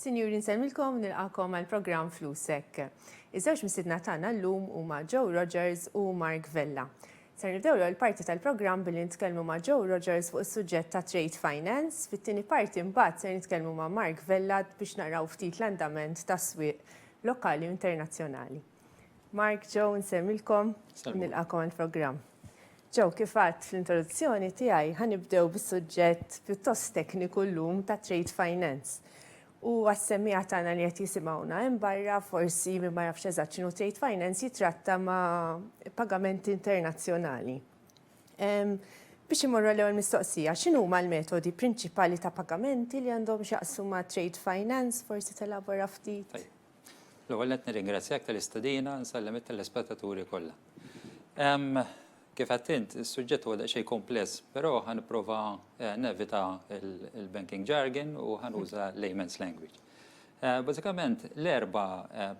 Sinjuri nsellmilkom u nilqagħkom għall-programm Flusek. Iż-żewġ mistiedna tagħna llum huma Joe Rogers u Mark Vella. Ser nibdew l-ewwel parti tal-programm billi nitkellmu ma' Joe Rogers fuq is-suġġett ta' Trade Finance. Fit-tieni parti mbagħad ser nitkellmu ma' Mark Vella biex naraw ftit l-andament tas-swieq lokali u internazzjonali. Mark, Joe, nsemmilkom, nilqakom għal-programm. Joe, kifat fl-introduzzjoni tiegħi ħanibdew bis-suġġett pjuttost tekniku llum ta' trade finance. U għas-semmiegħa tagħna li qed jisimgħuna hemm barra forsi min ma jafx eżatt x'inhu trade finance jitratta ma' pagamenti internazzjonali. Biex imorru għall-ewwel mistoqsija, x'inhuma l-metodi prinċipali ta' pagamenti li għandhom x'jaqsmu ma' trade finance? Forsi telaborah ftit. L-ewwel nett nirringrazzjak tal-istedina, nsellem it-telespettaturi kollha. Kif għedt int, is-suġġett huwa daqsxejn kumpless, però ħa nipprova eh, nevita l-banking jargon u ħa nuża layman's language. Eh, bażikament, l-erba eh,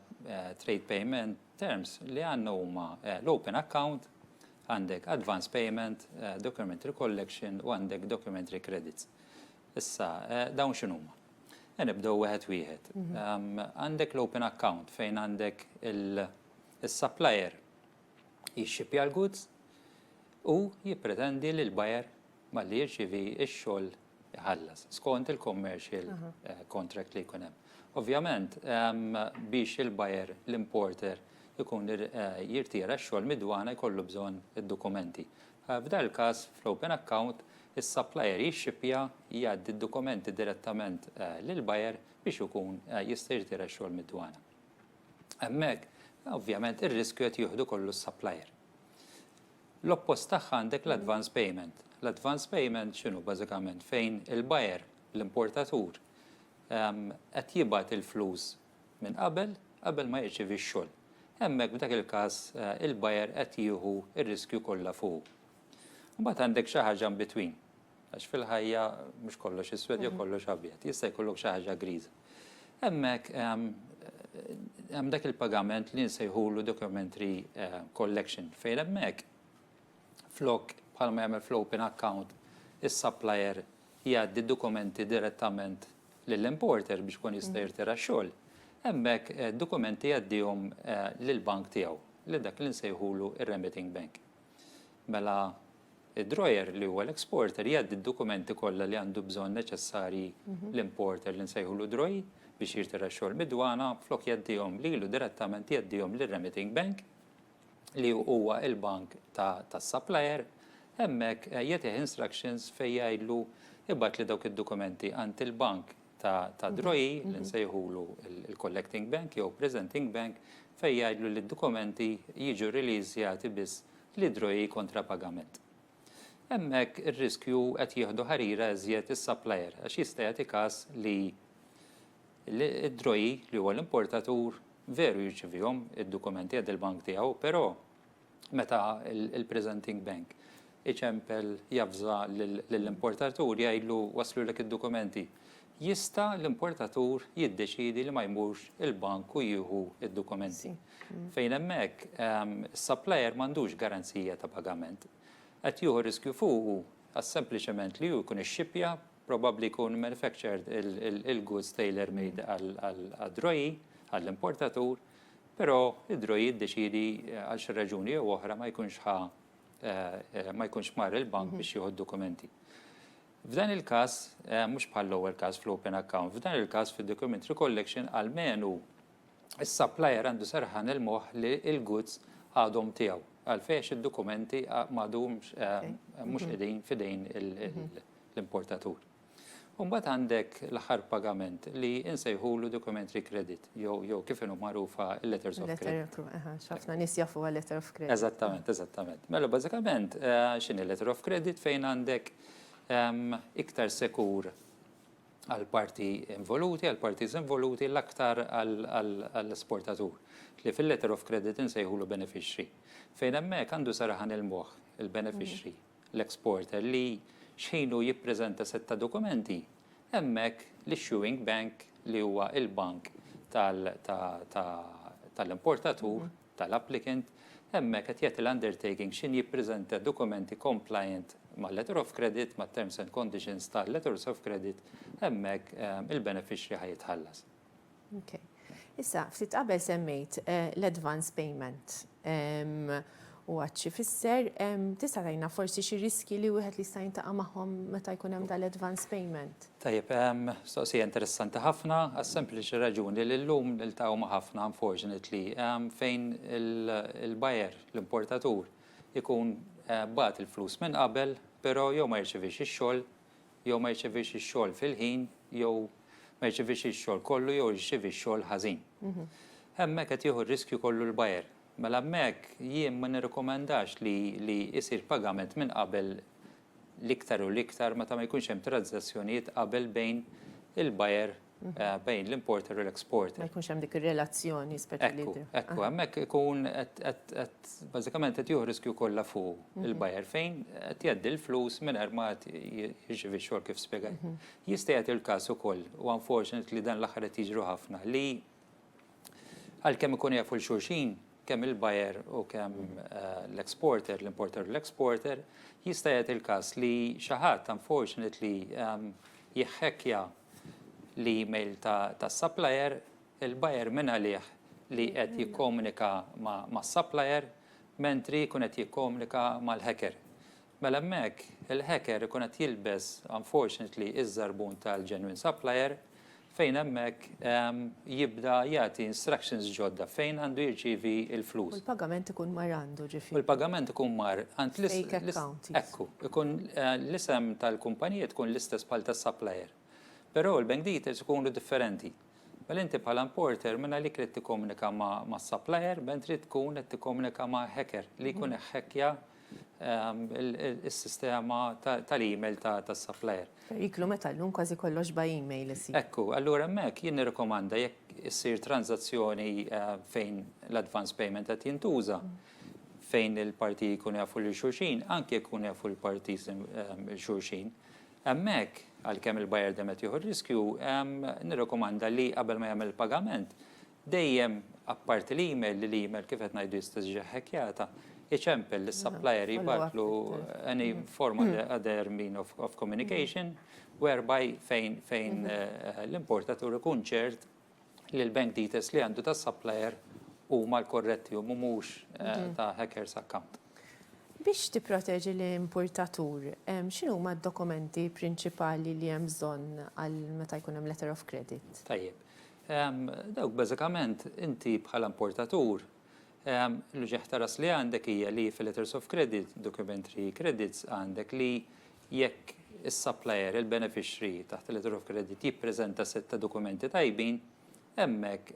trade payment terms li għandna huma l-open account, għandek advance payment, documentary collection u għandek documentary credits. Issa, dawn x'inhuma? Nibdew wieħed wieħed. Għandek l-open account fejn għandek il-supplier jixxipja l-goods u jippretendi li l-buyer malli jirċievi x-xogħol iħallas skont il-commercial contract li jkun hemm. Ovvjament, biex il-buyer, l-importer, ikun jirtira x-xogħol mid-dwana jkollu bżonn id-dokumenti. F'dan il-każ, fl-open account, is-supplier jixxippja, jgħaddi d-dokumenti direttament lill-buyer biex ikun jista' jirtira x-xogħol mid-dwana. Hemmhekk, ovvjament, ir-riskju qed jieħdu kollu s-supplier. L-oppost tagħha għandek l-advance payment. L-advance payment x'inhu bażikament? Fejn il-buyer, l-importatur, qed jibgħat il-flus minn qabel, qabel ma jirċievi x-xogħol. Hemmhekk f'dak il-każ il-buyer qed jieħu r-riskju kollha fuqu. Imbagħad għandek xi ħaġa in between, għax fil-ħajja mhux kollox iswed jew kollox abjad, jista' jkollok xi ħaġa griża. Hemmhekk hemm dak il-pagament li nsejħulu documentary collection fejn hemmhekk flok bħalma jagħmel fl-open account is-supplier jgħaddi d-dokumenti direttament lill-importer biex ikun jista' jirtira x-xogħol, hemmhekk d-dokumenti jgħaddihom lill-bank tiegħu, lil dak li nsejħulu r-remitting bank. Mela d-drawer li huwa l-exporter jgħaddi d-dokumenti kollha li għandu bżonn neċessarji l-importer li nsejħulu drawer biex jirtira x-xogħol mid-dwana flok jgħaddihom lilu direttament jgħaddihom lir-remitting bank. li huwa il-bank ta' tas-supplier, hemmhekk jagħtih instructions fejn jgħidlu ibgħatli dawk id-dokumenti għand il-bank ta' tad-droji li nsejħulu l-collecting bank jew presenting bank fejn jgħidlu li d-dokumenti jiġu releasjati biss lid-droji kontra pagament. Hemmhekk ir-riskju qed jieħdu ħarira iżjed is-supplier għax jista' jagħti każ li Id-DROI, li huwa l-importatur, veru jirċevihom id-dokumenti għand il-bank tiegħu, però meta l-presenting bank iċempel javża lill-importatur jgħidlu waslulek id-dokumenti, jista' l-importatur jiddeċiedi li ma jmurx il-bank u jieħu d-dokumenti. Fejn hemmhekk, is-supplier m'għandux garanzija ta' pagament. Qed jieħu riskju fuqu għax sempliċement li hu jkun ixxippja Probabbli jkun manufactured il-goods tailor made għad-droji, għall-importatur, però d-droji jiddeċiedi għal xi raġuni jew oħra ma jkunx ħa, ma jkunx mar il-bank biex jieħu d-dokumenti. F'dan il-każ, mhux bħall-ewwel każ fl-open account, f'dan il-każ fid-document recollection almenu s-supplier għandu serħan il-moħħ li l-goods għadhom tiegħu. Għalfejn għax id-dokumenti m'għadhomx, mhux qegħdin f'idejn l-importatur. U mbagħad għandek l-aħħar pagament li insejħulu documentary credit jew jew kif inhu magħrufa l-letters of credit. Ħafna nies jafu għal letter of credit. Eżattament, eżattament. Mela bażikament x'inhi letter of credit fejn għandek iktar sekur għal parti involuti, għal parties involuti l-aktar għall-esportatur li fil-letter of credit insejħulu beneficiary. Fejn hemmhekk għandu saraħan il-moħħ il-beneficiary l-exporter li xħin hu jippreżenta sett ta' dokumenti, hemmhekk l-issuing bank li huwa l-bank tal-importatur, tal-applicant, hemmhekk qed jagħti l-undertaking xħin jippreżenta dokumenti compliant mal-letter of credit, mat-terms and conditions tal-letters of credit, hemmhekk il-beneficiary ħa jitħallas. Okay. Issa, ftit qabel semmejt eh, l-advance payment ehm, u għadċi fisser, ehm, tista' tajna forsi xi riski li wieħed li jista' jintaqa' magħhom meta jkun hemm dal-advance payment. Tajjeb, ehm, soqsija interessanti ħafna, għas sempliċi raġuni li llum niltaqgħu ma' ħafna unfortunately fejn il-bajer, l-importatur, ikun eh, bat il-flus minn qabel, però jew ma jirċivix ix-xogħol jew ma jirċevix ix-xogħol fil-ħin jew ma jirċevix ix-xogħol kollu jew jirċevi x-xogħol ħażin. Hemmhekk qed jieħu r-riskju kollu l-buyer. Mela hemmhekk jien ma nirrikomandax li li jsir pagament minn qabel l-iktar u l-iktar meta ma jkunx hemm tranżazzjonijiet qabel bejn il-buyer bejn l-importer u l-exporter. Ma jkunx hemm dik ir-relazzjoni speċjali. Ekku, hemmhekk ikun qed bażikament qed jieħu riskju kollha fuq il-buyer fejn qed jgħaddi l-flus mingħajr ma jirċievi x-xogħol kif spjegajt. Jista' jagħti l-każ ukoll, u unfortunately dan l-aħħar qed jiġru ħafna, li għalkemm ikunu jafu lil xulxin, kemm il-buyer u kemm l-exporter, l-importer u l-exporter, jista' jagħti l-każ li xi ħadd unfortunately jihhackja l-email tas-supplier, il-buyer minn għalih li qed jikkomunika mas-supplier mentri jkun qed jikkomunika mal-hacker. Mela hemmhekk il-hacker ikun qed jilbes unfortunately iż-żarbun tal-genuine supplier fejn hemmhekk jibda jagħti instructions ġodda fejn għandu jirċievi l-flus. U l-pagament ikun mar għandu ġifieri. U l-pagament ikun mar għand l-istess. Ekku, ikun eh, l-isem tal-kumpanija tkun l-istess bħal tas-supplier. Però l-bank details ikunu differenti. Mela inti bħala importer minn għalik li tikkomunika ma' supplier, bent trid tkun qed tikkomunika ma' hacker li jkun iħekkja mhm. is-sistema tal-email tas-supplier. Periklu meta llum kważi kollox by email isir. Ekku, allura hemmhekk jien nirrikomanda jekk issir tranżazzjoni fejn l-advance payment qed jintuża, fejn il-partiji jkunu jafu lil xulxin, anke jekk ikunu jafu l-partiji lil xulxin, hemmhekk għalkemm il-buyer dejjem qed jieħu r-riskju, nirrikomanda li qabel ma jagħmel il-pagament, Dejjem, apparti l-email, li l-email kif qed ngħidu jista' jiġi ħekkjata, iċempel lis-supplier jibgħatlu any form of other mean of communication whereby fejn fejn l-importatur ikun ċert li l-bank details li għandu tas-supplier huma l-korretti u mhumux ta' hackers account. Biex tipproteġi l-importatur, x'inhuma d-dokumenti prinċipali li hemm bżonn għal meta jkun hemm letter of credit? Tajjeb. Dawk bażikament inti bħala importatur l-uġigħ ta' ras li għandek hija li fil-letters of credit, documentary credits għandek li jekk is-supplier, il-beneficiary taħt il-letter of credit jippreżenta sett ta' dokumenti tajbin, hemmhekk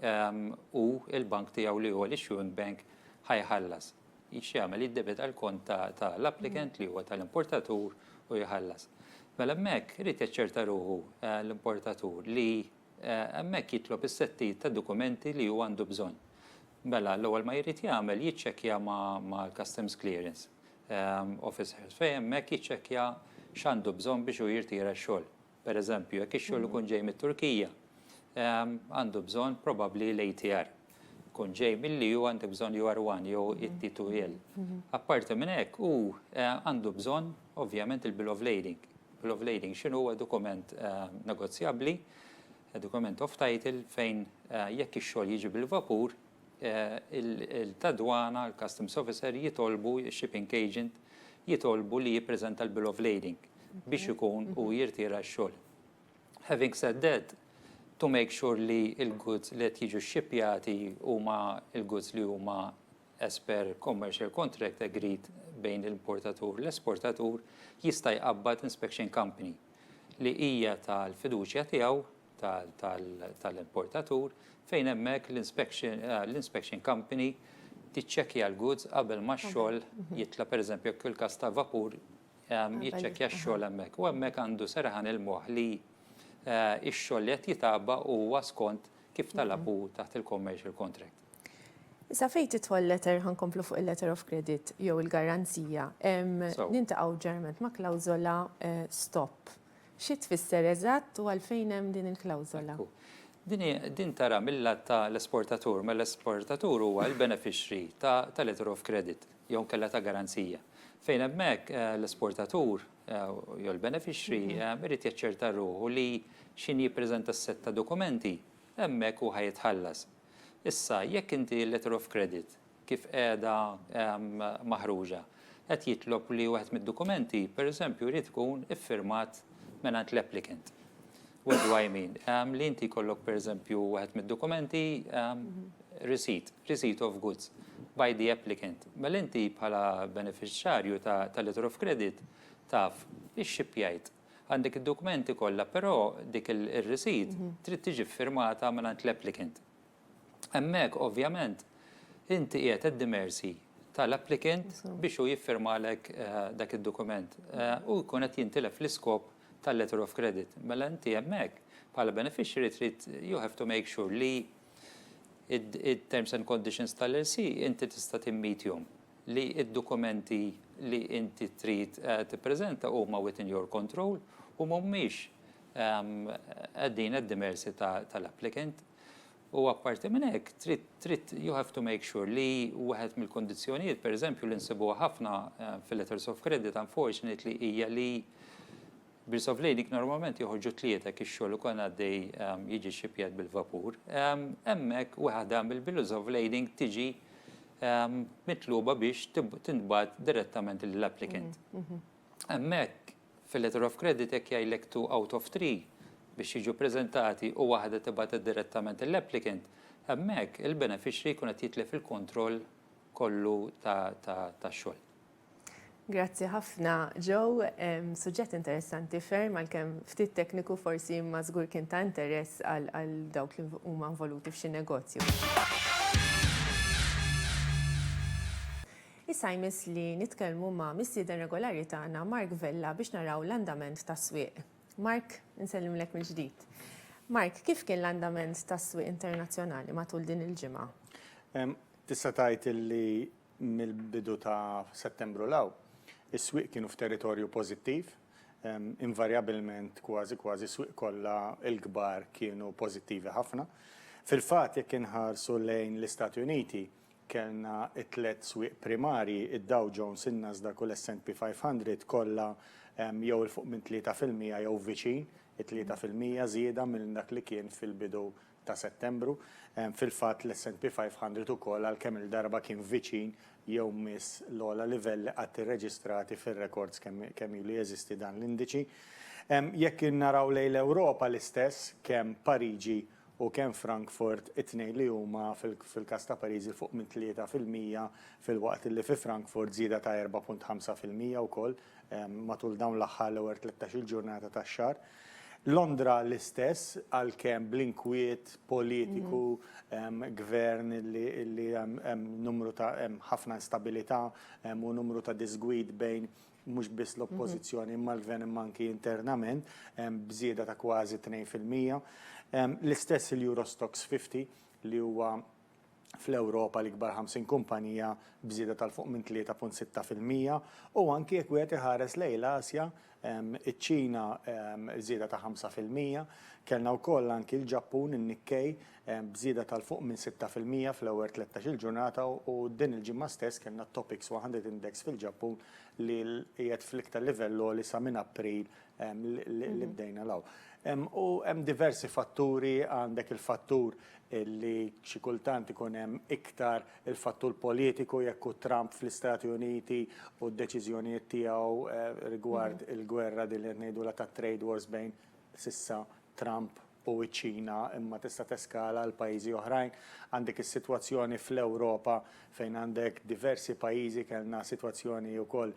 hu l-bank tiegħu li huwa l-issuing bank ħa jħallas. X'jagħmel? Jiddebita l-kont ta' l-applicant li huwa ta' l-importatur u jħallas. Mela hemmhekk irid jaċċerta ruħu l-importatur li Hemmhekk jitlob is-settijiet ta' dokumenti li hu għandu bżonn. Mela, l-ewwel ma jrid jagħmel jiċċekkja mal-customs clearance officers fejn hemmhekk jiċċekkja x'għandu bżonn biex hu jirtira x-xogħol. Per eżempju, jekk ix-xogħol ikun ġej mit-Turkija, għandu bżonn probabbli l-ATR. tkun ġej mill-li u għandu bżon UR1 jew it-T2L. Apparti minn hekk u eh, għandu bżon ovvjament il-bill of lading. Bill of lading xinu huwa dokument eh, negozjabbli, eh, dokument of title fejn jekk ix-xogħol jiġi bil-vapur, il-tadwana, il-customs officer jitolbu, il-shipping agent jitolbu li jippreżenta l-bill of lading biex ikun u jirtira x-xogħol. Having said that, to make sure li l-goods li qed jiġu xxippjati huma l-goods li huma as per commercial contract agreed bejn l-importatur u l-esportatur, jista' jqabbad inspection company li hija tal-fiduċja tiegħu, tal-importatur, fejn hemmhekk l-inspection company tiċċekkja l-goods qabel ma x-xogħol jitla', pereżempju jekk fil-każ ta' vapur, jiċċekkja x-xogħol hemmhekk. U hemmhekk għandu serħan il-moħħ li eh, x-xogħol li qed jitaba huwa skont kif talabu mhm. taħt il-commercial contract. Issa fejn titħol letter ħankomplu fuq il-letter of credit jew il-garanzija, nintaqgħu ġerment ma' klawżola eh, stop. Xi tfisser eżatt u għalfejn hemm din il-klawżola? Din tara mill-lat ta' l-esportatur, ma mela l-esportatur huwa l-beneficiary ta' letter of credit. jew inkella ta' garanzija, fejn hemmhekk l-esportatur jew il-benefiċri jrid jaċċerta ruħu li x'ħin jippreżenta s-sett ta' dokumenti, hemmhekk hu ħa jitħallas. Issa, jekk inti l-letter of credit kif qiegħda maħruġa qed jitlob li wieħed mid-dokumenti, pereżempju, jrid ikun iffirmat mingħand l-applicant. What do I mean? Um, li inti kollok per eżempju għed mid-dokumenti um, receipt, receipt of goods by the applicant. Mel inti bħala beneficjarju ta', ta letter of credit taf ix-xipjajt għandek id-dokumenti kollha, però dik il-receipt mhm. trid tiġi firmata minn l-applicant. Hemmhekk ovvjament inti qiegħed at the mercy tal-applicant biex u jiffirmalek eh, dak id-dokument eh, u jkun qed jintilef l-iskop tal-letter of credit. Mela inti hemmhekk bħala beneficiary trid you have to make sure li it-terms and conditions tal-LC inti tista' timmeetjhom, li d-dokumenti li inti trid tippreżenta huma within your control u mhumiex qegħdin at the mercy tal-applicant. U apparti minn hekk, trid, trid, you have to make sure li wieħed mill-kundizzjonijiet, pereżempju, li nsibuha ħafna fil-letters of credit unfortunately hija li bills of lading normalment joħorġu tlieta hekk ix-xogħol ukoll għaddej jiġi xxipjat bil-vapur. Hemmhekk waħda mill-bills of lading tiġi mitluba biex tintbagħat direttament lill-applicant. Hemmhekk, Fil-letter of credit jekk jgħidlek two out of three biex jiġu ppreżentati u waħda tibgħatha direttament lill-applicant, hemmhekk il-beneficiary jkun qed jitlef il-kontroll kollu tax-xogħol. Grazzi ħafna Joe, suġġett interessanti ferm għalkemm ftit tekniku forsi imma żgur kien ta' interess għal dawk li huma involuti f'xi negozju. Issa jmiss li nitkellmu ma' mistieden regolari tagħna Mark Vella biex naraw l-andament tas-swieq. Mark, insellimlek mill-ġdid. Mark, kif kien l-andament tas-swieq internazzjonali matul din il-ġimgħa? Tista' tgħid li mill-bidu ta' Settembru 'l hawn, is-swieq kienu f'territorju pożittiv. Invarjabbilment, kważi kważi s-swieq kollha l-kbar kienu pożittivi ħafna. Fil-fatt, jekk inħarsu lejn l-Istati Uniti, Kellna t-tliet swieq primarji, id-Dow Jones, in-Nasdaq u l-S and P 500, kollha jew 'il fuq minn tlieta fil-mija jew viċin it-tlieta fil-mija żieda minn dak li kien fil-bidu ta' Settembru. Fil-fatt, l-S and P 500 ukoll għal kemm-il darba kien viċin jew miss l-ogħla livelli qatt irreġistrati fir-rekords kemm ilu jeżisti dan l-indiċi. Jekk naraw lejn l-Ewropa l-istess, kemm Pariġi u kemm f'Frankfurt it-tnejn li huma fil-każ ta' Pariżi fuq minn 3 fil-mija filwaqt li fi Frankfurt żieda ta' 4.5 fil-mija wkoll matul dawn l-aħħar l-ewwel tlettax-il ġurnata tax-xahar. Londra l-istess għalkemm bl-inkwiet politiku, gvern li hemm numru ta' hemm ħafna instabilità u numru ta' diżgwid bejn mhux biss l-Oppożizzjoni imma l-Gvern imma anki internament b'żieda ta' kważi tnejn fil-mija. L-istess il-Euro Stoxx 50 li huwa fl-Ewropa l-ikbar 50 kumpanija b'żieda tal-fuq minn 3.6 fil-mija u anki jekk wieħed iħares lejn l-Asja, iċ-Ċina żieda ta' ħamsa fil-mija, kellna wkoll anki l-Ġappun, in-Nikkei, b'żieda ta' 'l fuq minn sitta fil-mija fl-ewwel tlettax-il ġurnata u din il-ġimgħa stess kellna t-Topix 100 Index fil-Ġappun li qiegħed fl-iktar livell għoli sa minn April li bdejna 'l hawn. U hemm diversi fatturi, għandek il-fattur li xi kultant ikun hemm iktar il-fattur politiku jekk hu Trump fl-Istati Uniti u d-deċiżjonijiet tiegħu rigward il-gwerra din li qed ngħidulha tat-trade wars bejn s'issa Trump u ċ-Ċina imma tista' teskala għal pajjiżi oħrajn. Għandek is-sitwazzjoni fl-Ewropa fejn għandek diversi pajjiżi, kellna sitwazzjoni wkoll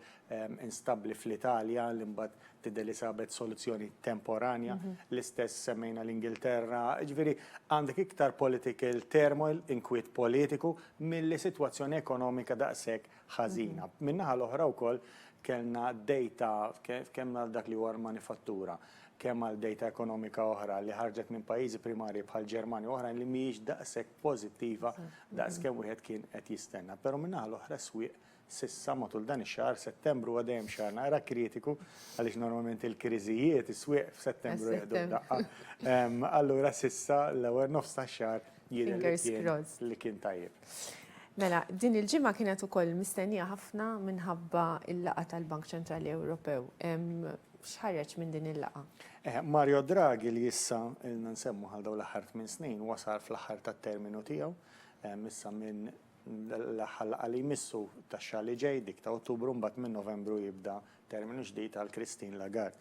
instabbli fl-Italja li mbagħad tidher li sabet soluzzjoni temporanja, l-istess semmejna l-Ingilterra. Jiġifieri għandek iktar political turmoil, inkwiet politiku, milli sitwazzjoni ekonomika daqshekk ħażina. Min-naħa l-oħra wkoll kellna dejta, tkellmna għal dak li huwa l-manifattura, kemm għal dejta ekonomika oħra li ħarġet minn pajjiżi primarji bħall-Ġermanja u oħrajn li mhijiex daqshekk pożittiva daqs kemm wieħed kien qed jistenna. Però min-naħa l-oħra s-swieq s'issa matul dan ix-xahar, Settembru huwa dejjem xahar naqra kritiku għaliex normalment il-kriżijiet is-swieq f'Settembru jieħdu d-daqqa. Allura s'issa l-ewwel nofs tax-xahar jidher li kien tajjeb. Mela, din il-ġimgħa kienet ukoll mistennija ħafna minħabba l-laqgħa tal-Bank Ċentrali Ewropew. X'ħareġ minn din il-laqgħa? Mario Draghi li issa ilna nsemmu għal dawn l-aħħar tmien snin wasal fl-aħħar tat-terminu tiegħu issa minn l-aħħar laqgħa li jmissu tax-xahar li ġej dik ta' Ottubru mbagħad minn Novembru jibda terminu ġdid għal Christine Lagarde.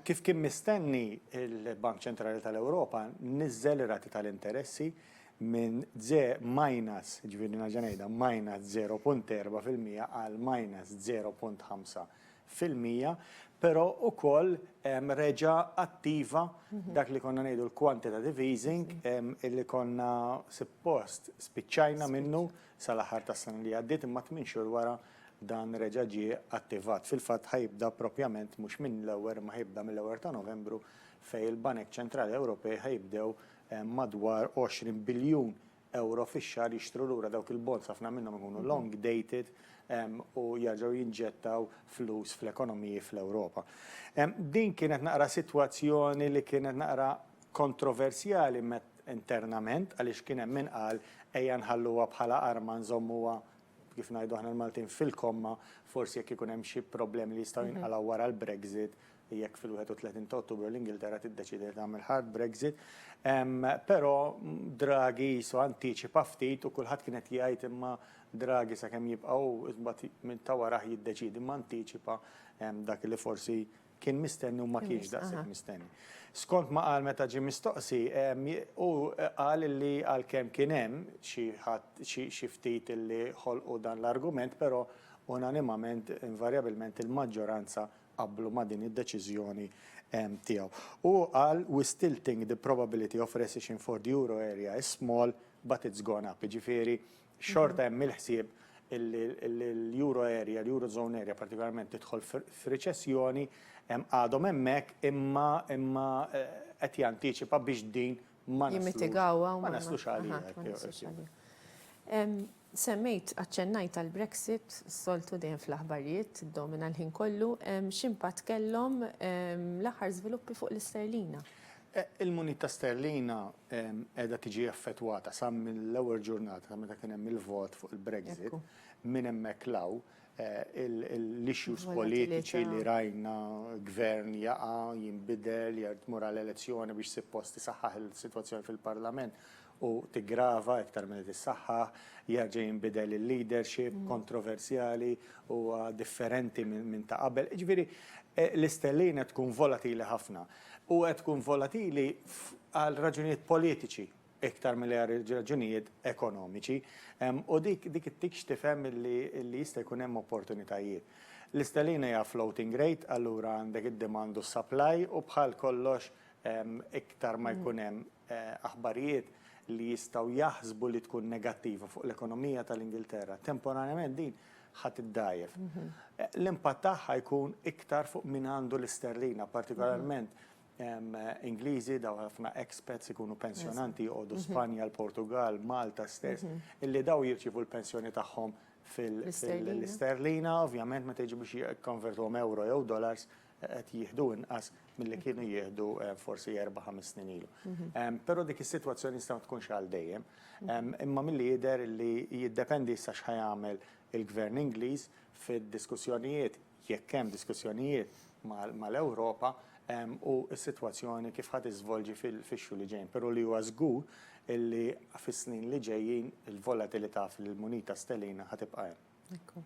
Kif kien mistenni il-Bank Ċentrali tal-Ewropa niżżel ir-rati tal-interessi minn ze minus, ġifieri nerġa' ngħidha, minus 0.4% għal minus 0.5% fil-mija, però wkoll reġa' attiva dak li konna ngħidu l-quantitative easing illi konna suppost spiċċajna minnu sal-aħħar tas-sena li għaddiet imma tmien xhur wara dan reġa' ġie attivat. Fil-fatt ħa jibda proprjament mhux minn l-ewwel imma ħa jibda mill-ewwel ta' Novembru fejn il-Banek Ċentrali Ewropej ħa jibdew madwar 20 biljun ewro fix-xahar jixtru lura dawk il-bonds, ħafna minnhom ikunu long dated u jerġgħu jinġettaw flus fl-ekonomiji fl-Ewropa. Din kienet naqra sitwazzjoni li kienet naqra kontroversjali internament għaliex kien hemm min qal ejja nħalluha bħala arma nżommuha kif ngħidu aħna l-Maltin fil-komma forsi jekk ikun hemm xi problemi li jistgħu jinqalgħu wara l-Brexit jekk fil-31 ta' Ottubru l-Ingilterra tiddeċiedi li tagħmel hard Brexit. Però Draghi qisu antiċipa ftit u kulħadd kien qed jgħid imma Draghi sakemm jibqa' hu imbagħad minn ta' warah jiddeċiedi imma antiċipa dak li forsi kien mistenni u ma kienx daqshekk mistenni. Skont ma qal meta ġie mistoqsi, hu qal li għalkemm kien hemm xi ħadd xi ftit li ħolqu dan l-argument, però unanimament, invarjabilment il-maġġoranza qablu ma' din id-deċiżjoni tiegħu. U hu qal, We still think the probability of recession for the euro area is small, but it's gone up. Jiġifieri, xorta hemm il-ħsieb illi l-euro area, l-eurozone area partikolarment tidħol f'riċessjoni, għadhom hemmhekk imma qed jantiċipa biex din ma naslux għaliha. Semmejt, aċċennajt għall-Brexit, s-soltu dejjem fl-aħbarijiet tiddomina l-ħin kollu. X'impatt kellhom l-aħħar żviluppi fuq l-isterlina? Il-munita sterlina qiegħda tiġi effettwata sa mill-ewwel ġurnata ta' meta kien hemm il-vot fuq il-Brexit. Minn hemmhekk 'l hawn l-issues politiċi li rajna, gvern jaqa', jinbidel, jew tmur għal elezzjoni biex suppost isaħħaħ is-sitwazzjoni fil-Parlament, u tiggrava iktar milli tissaħħaħ, jerġa' jinbidel il-leadership kontroversjali u differenti minn ta' qabel. Jiġifieri l-istellina tkun volatili ħafna u qed tkun volatili għal raġunijiet politiċi iktar milli għal raġunijiet ekonomiċi u dik ittikx tifhem li jista' jkun hemm opportunitajiet. L-istellina hija floating rate allura għandek id-demand u s-supply u bħal kollox iktar ma jkun hemm aħbarijiet li jistgħu jaħsbu li tkun negattiva fuq l-ekonomija tal-Ingilterra, temporanjament din ħa tiddgħajjef. L-impatt tagħha jkun iktar fuq min għandu l-isterlina, partikolarment Ingliżi, daw ħafna expats ikunu pensjonanti joqogħdu Spanja, l-Portugal, Malta stess, illi daw jirċievu l-pensjoni tagħhom fil-isterlina, ovvjament meta jiġu biex jikkonvertuhom euro jew dollars, qed jieħdu inqas milli kienu jieħdu forsi erba' ħames snin ilu. Però dik is-sitwazzjoni tista' ma tkunx għal dejjem. Imma milli jidher li jiddependi issa x'ħa jagħmel il-Gvern Ingliż fid-diskussjonijiet, jekk hemm diskussjonijiet mal-Ewropa, u s-sitwazzjoni kif ħa tiżvolġi fix-xhur li ġejjin. Però li huwa żgur li fis-snin li ġejjin il-volatilità fil-munita sterlina ħa tibqa' hemm. Ekku.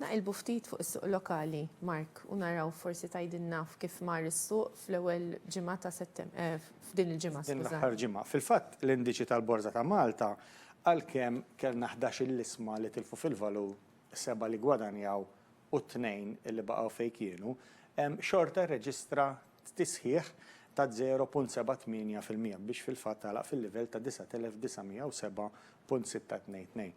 Naqilbu ftit fuq is-suq lokali, Mark, u naraw forsi tgħidilna f'kif mar is-suq fl-ewwel ġimgħa ta' Settem-, f'din il-ġimgħa, skużani. F'din l-aħħar ġimgħa. Fil-fatt, l-indiċi tal-Borża ta' Malta, għalkemm kellna ħdax-il isma li tilfu fil-valur, seba' li ggwadanjaw, u t-tnejn li baqgħu fejn kienu, xorta rreġistra tisħiħ ta' 0.78 fil-mija biex fil-fatt għalaq fil-livell ta' 9,907.622.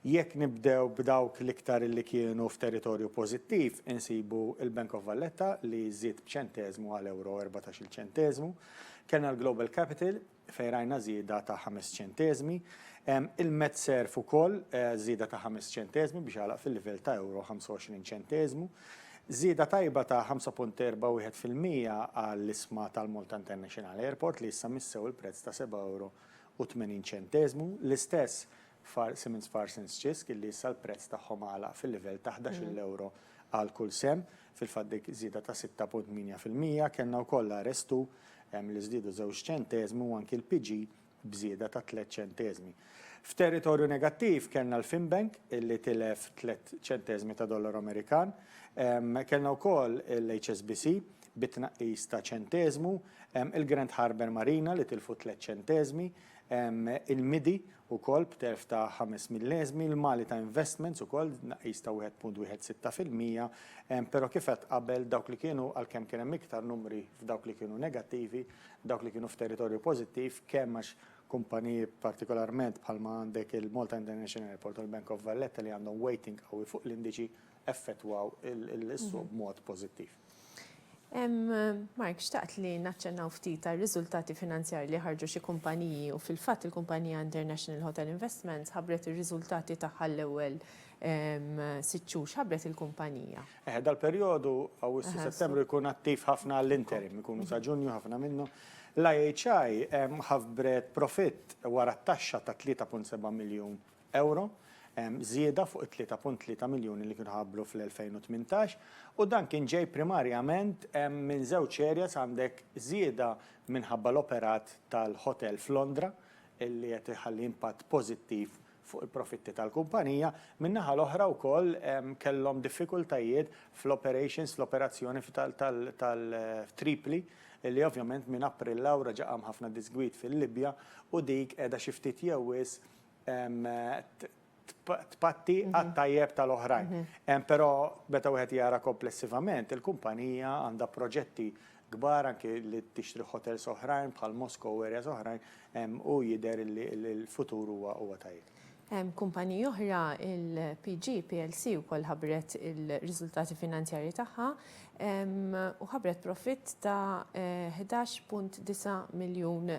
Jekk nibdew b'dawk l-iktar li kienu f'territorju pożittiv, insibu l-Bank of Valletta li żied b'ċenteżmu għal ewro u erbatax-il ċenteżmu. Kellna l-Global Capital fejn rajna żieda ta' ħames ċenteżmi. Il-MedServ ukoll żieda ta' ħames ċenteżmi biex għalaq fil-livell ta' ewro 25 ċenteżmu. Żieda tajba ta' 5.41 fil-mija għall-isma tal-Malta International Airport li issa missew il-prezz ta' seba' ewro u 80 ċenteżmu. L-istess f'Far Simmons Parsons Ċisk illi issa l-prezz tagħhom għalaq fil-livell ta' ħdax-il ewro għal kull sehem. Fil-fatt dik żieda ta' sitta punt tmienja fil-mija, kellna wkoll l-Arestu li żdiedu żewġ ċenteżmi u anki l-PG b'żieda ta' tliet ċenteżmi. F'territorju negattiv kellna l-Finbank li tilef tliet ċenteżmi ta' dollaru Amerikan. Kellna wkoll l-HSBC bi tnaqqis ta' ċenteżmu, il-Grand Harbour Marina li tilfu tliet ċenteżmi, il-MIDI Ukoll b'telf ta' ħames milleżmi, l-Malita Investments ukoll b'tnaqqis ta' wieħed punt wieħed sitta fil-mija, però kif għedt qabel dawk li kienu, għalkemm kien hemm iktar numri f'dawk li kienu negattivi, dawk li kienu f'territorju pożittiv, kemm għax kumpaniji partikolarment bħalma għandek il-Malta International Airport u l-Bank of Valletta li għandhom weighting qawwi fuq l-indiċi, effettwaw is-suq b'mod pożittiv. Mark, xtaqt li naċċennaw ftit għar-riżultati finanzjarji li ħarġu xi kumpaniji u fil-fatt il-kumpanija International Hotel Investments ħabbret ir-riżultati tagħha l-ewwel sitt xhur. X'ħabbret il-kumpanija? Eħe, dal-perjodu, Awwissu-Settembru, jkun attiv ħafna għall-interim, ikunu sa Ġunju ħafna minnhom. L-IHI ħabbret profitt wara t-taxxa ta' 3.7 miljun ewro, żieda fuq it-3.3 miljuni li kienu tħabbru fl-2018, u dan kien ġej primarjament minn żewġ areas, għandek żieda minħabba l-operat tal-ħotel f'Londra li qed iħalli impatt pożittiv fuq il-profitti tal-kumpanija, min-naħa l-oħra wkoll kellhom diffikultajiet fl-operations, fl-operazzjoni f'Tripli, li ovvjament minn April 'l hawn reġa' qam ħafna diżgwid fil-Libja u dik qiegħda xi ftit jew wisq tpatti għat-tajjeb tal-oħrajn. Però meta wieħed jara komplessivament, il-kumpanija għandha proġetti kbar anke li tixtri ħotels oħrajn bħal Mosko u areas oħrajn u jidher li l-futur huwa tajjeb. Kumpaniji oħra, il-PG plc wkoll ħabbret ir-riżultati finanzjarji tagħha. u ħabbret profitt ta' ħdax punt disa' miljun.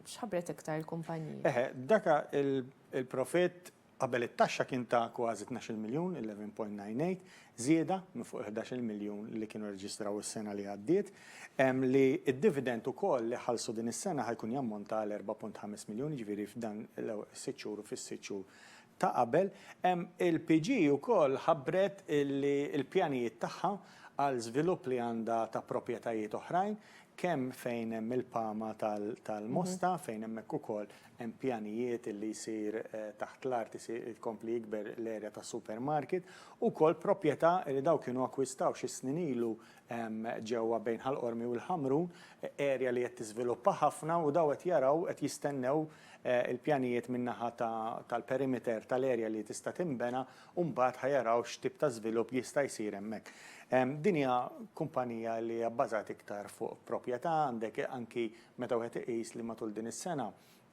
X'ħabbret iktar il-kumpanija? Eħe, daka il-profitt qabel it-taxxa kien ta' kważi tnax-il miljun, eleven point nine eight, żieda minn fuq il-ħdax-il miljun li kienu rreġistraw is-sena li għaddiet, li d-dividend ukoll li ħallsu din is-sena ħa jkun jammonta għal erba' punt ħames miljun, jiġifieri f'dan l-ewwel sitt xhur u fis-sitt xhur ta' qabel, il-PG ukoll ħabbret li l-pjanijiet tagħha għal żvilupp li għandha ta' proprjetajiet oħrajn, kemm fejn hemm il-pama tal-Mosta, fejn hemmhekk ukoll hemm pjanijiet li jsir taħt l-art tkompli jikber l-erja tas-supermarket, ukoll proprjetà li dawn kienu akkwistaw xi snin ilu ġewwa bejn Ħal Qormi u l-Ħamrun, erja li qed tiżviluppa ħafna u dawn qed jaraw, qed jistennew il-pjanijiet min-naħa tal-perimeter tal-erja li tista' tinbena u mbagħad ħa jaraw x'tip ta' żvilupp jista' jsir hemmhekk. Din hija kumpanija li hija bbażat iktar fuq proprjetà, għandek anki meta wieħed iqis li matul din is-sena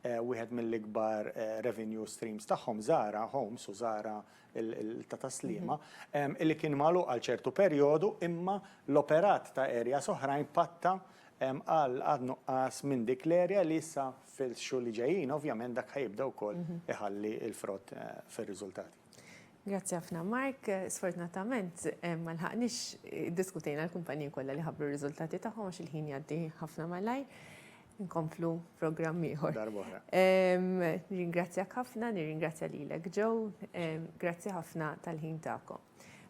wieħed mill-ikbar revenue streams tagħhom, Zara Homes u Zara ta' Tas-Sliema, li kien magħluq għal ċertu perjodu imma l-operat ta' areas oħrajn patta għal nuqqas minn dik l-area li issa Fil-xhur li ġejjin, ovvjament dak ħa jibda wkoll iħalli l-frott fir-riżultati. Grazzi ħafna Mark. Sfortunatament ma lħaqniex iddiskutejna l-kumpaniji kollha li ħabbru r-riżultati tagħhom għax il-ħin jgħaddi ħafna malajr. Inkomplu f'programm ieħor. Darba oħra. Nirringrazzjak ħafna, nirringrazzja lilek Joe. Grazzi ħafna tal-ħin tagħkom.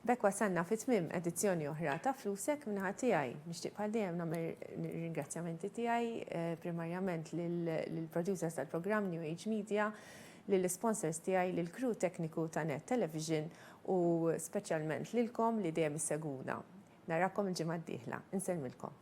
B'hekk wasalna fi tmiem edizzjoni oħra ta' Flusek minnaħa tiegħi. Nixtieq bħal dejjem nagħmel ringrazzjamenti tiegħi eh, primarjament lill-producers tal-programm New Age Media, lill-sponsors tiegħi, lill-crew tekniku ta' Net Television u speċjalment lilkom li dejjem isseguna. Narakom il-ġimgħa d-dieħla. Insellmilkom.